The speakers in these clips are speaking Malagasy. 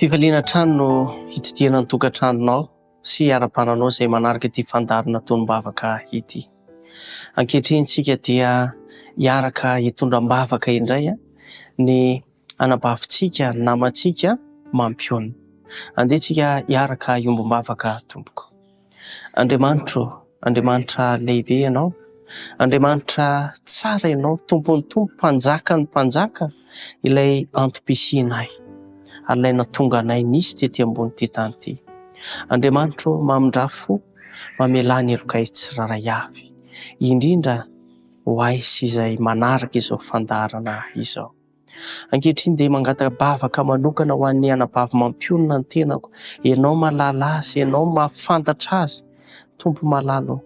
Fifaliana hatrany no hitsidihana ny tokantranonao sy hiara-bananao izay manaraka ity fandaharan'ny atonim-bavaka ity. Ankehitriny isika dia hiaraka hitondra am-bavaka indray ny anabavintsika, ny namantsika mampionona. Andeha isika hiaraka hiombom-bavaka tompoko. Andriamanitra ô, Andriamanitra lehibe Ianao, Andriamanitra tsara Ianao, Tompon'ny tompo, Mpanjakan'ny mpanjaka, ilay antom-pisianay ary ilay nahatonga anay nisy tety ambonin'ity tany ity. Andriamanitra ô, mamindrà fo, mamelà ny helokay tsirairay avy, indrindra ho ahy sy izay manaraka izao fandaharana izao. Ankehitriny dia mangata-bavaka manokana ho an'ny anabavy mampionona ny tenako. Ianao mahalala azy, ianao mahafantatra azy. Tompo malala ô,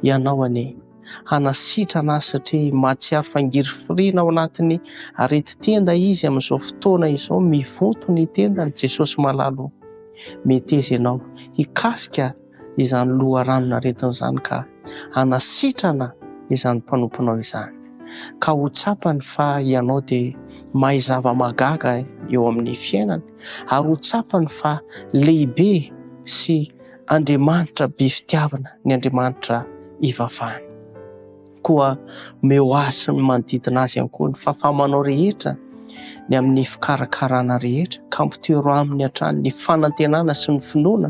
ianao anie hanasitrana azy satria mahatsiaro fa ngirifirina ao anatin'ny areti-tenda izy amin'izao fotoana izao, mivonto ny tendany. Jesosy malala ô, meteza ianao hikasika. izany loharanon-aretina izany ka hanasitrana izany mpanomponao izany, ka ho tsapany fa ianao dia mahay zava-mahagaga eo amin'ny fiainany, ary ho tsapany fa lehibe sy Andriamanitra be fitiavana ny Andriamanitra ivavany. Koa omeo azy sy ny manodidina azy ihany koa ny fahafahamanao rehetra, ny amin'ny fikarakarana rehetra, ka ampitoero aminy hatrany ny fanantenana sy ny finoana,